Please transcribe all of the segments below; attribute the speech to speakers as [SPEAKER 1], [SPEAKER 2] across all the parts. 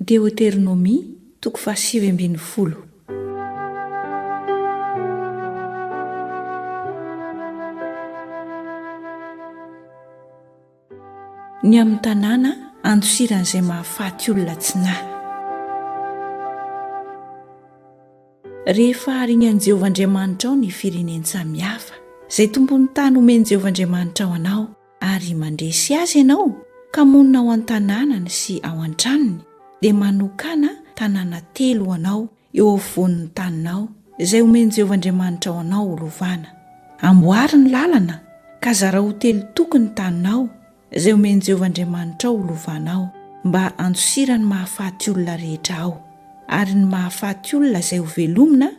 [SPEAKER 1] Deoteronomia, toko fahasivy ambin'ny folo. Ny amin'ny tanàna andosiran'izay mahafaty olona tsy nahy. Rehefa haharin' an'i Jehovah Andriamanitrao ny firenen-tsamy hafa, izay tompon'ny tany homen'i Jehovah Andriamanitrao anao, ary mandresy azy ianao ka monina ao an-tanànany sy ao an-tranony, dia manokàna tanàna telo ho anao eo afovoan'ny taninao, izay homen'i Jehovah Andriamanitrao anao holovàna. Amboary ny làlana, ka zarao ho telo toko ny taninao, izay homen'i Jehovah Andriamanitrao holovànao, mba handosirany mahafaty olona rehetra ao, ary ny mahafaty olona izay hovelomina,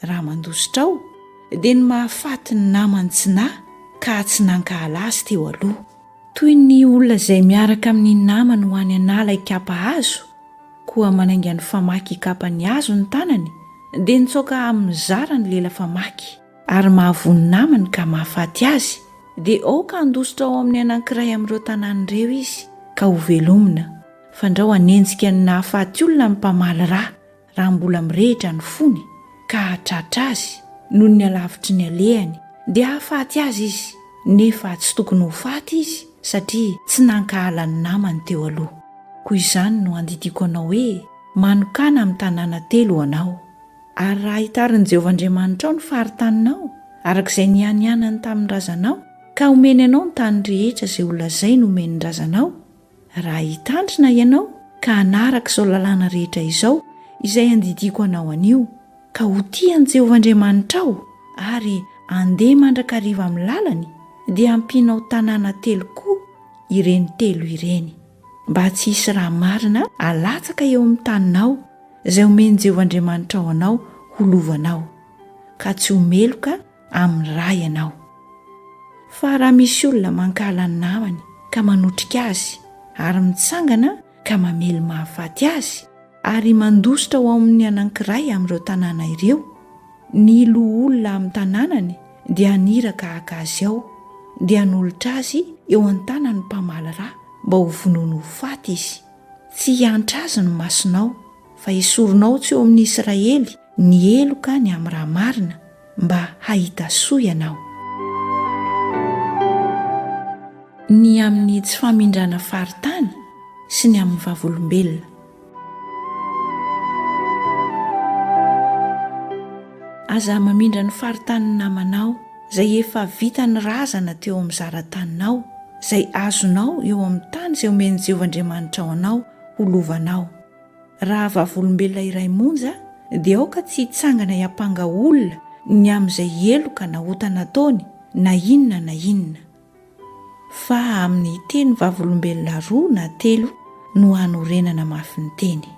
[SPEAKER 1] Raha mandositra aho, dia ny mahafaty ny namany tsy nahy ka tsy nankahala azy teo aloha. Toy ny olona izay miaraka amin'ny namany ho any an'ala hikapa hazo, koa manainga ny famaky hikapa ny hazo ny tanany, dia nitsoaka amin'ny zara ny lela famaky, ary mahavoa ny namany ka mahafaty azy, dia aoka handositra ao amin'ny anankiray amin'ireo tanàna ireo izy, ka hovelomina, fandrao hanenjika ny nahafaty olona ny mpamaly ra, raha mbola mirehitra ny fony ka hahatratra azy noho ny halavitry ny alehany, dia hahafaty azy izy, nefa tsy tokony ho faty izy satria tsy nankahala ny namany teo aloha. Koa izany no andidiako anao hoe, Manokàna amin'ny tanàna telo ho anao. Ary raha hitarin'i Jehovah Andriamanitrao ny faritaninao, araka izay nianianany tamin'ny razanao, ka homeny anao ny tany rehetra izay holazainy homeny ny razanao, Raha hitandrina ianao ka hanaraka izao lalàna rehetra izao izay andidiako anao anio, ka ho tia an'i Jehovah Andriamanitrao ary handeha mandrakariva amin'ny lalany, dia ampianao tanàna telo koa ireny telo ireny, mba tsy hisy raha marina halatsaka eo amin'ny taninao, izay omen'i Jehovah Andriamanitrao anao ho lovanao, ka tsy ho meloka amin'ny ra ianao. Fa raha misy olona mankahala ny namany ka manotrika azy, ary mitsangana ka mamely mahafaty azy, ary mandositra ao amin'ny anankiray amin'ireo tanàna ireo, ny loholona amin'ny tanànany dia haniraka haka azy ao, dia hanolotra azy eo an-tanan'ny mpamaly ra mba ho vonoiny ho faty izy. Tsy hiantra azy ny masonao, fa hesorinao tsy eo amin'ny Israely ny heloka ny amin'ny ra marina, mba hahita soa ianao. Ny amin'ny tsy famindrana faritany sy ny amin'ny vavolombelona. Aza mamindra ny faritanin'ny namanao izay efa vitan'ny razana teo amin'ny zara-taninao, izay azonao eo amin'ny tany izay omen'i Jehovah Andriamanitrao anao ho lovanao. Raha vavolombelona iray monja, dia aoka tsy hitsangana hiampanga olona ny amin'izay heloka na ota nataony, na inona na inona. Fa amin'ny hiteny vavolombelona roa na telo no hanorenana mafy ny teny.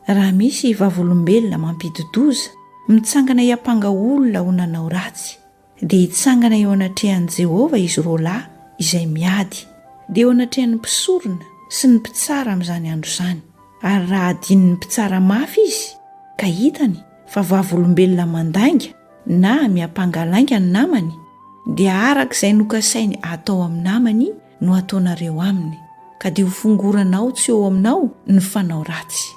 [SPEAKER 1] Raha misy vavolombelona mampidi-doza, mitsangana hiampanga olona ho nanao ratsy, Dia hitsangana eo anatrehan'i Jehovah izy roalahy izay miady, dia eo anatrehan'ny mpisorona sy ny mpitsara amin'izany andro izany. Ary raha hadinon'ny mpitsara mafy izy, ka hitany fa vavolombelona mandainga na miampanga lainga ny namany, dia araka izay nokasainy hatao amin'ny namany no ataonareo aminy, ka dia ho fongoranao tsy eo aminao ny fanao ratsy.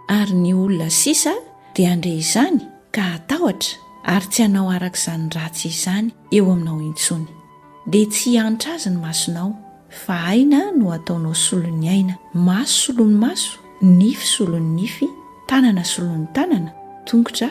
[SPEAKER 1] Ary ny olona sisa dia handre izany ka hatahotra ary tsy hanao araka izany ratsy izany eo aminao intsony. Dia tsy hihantra azy ny masonao, fa aina no hataonao solon'ny aina, maso solon'ny maso, nify solon'ny nify, tanana solon'ny tanana, tongotra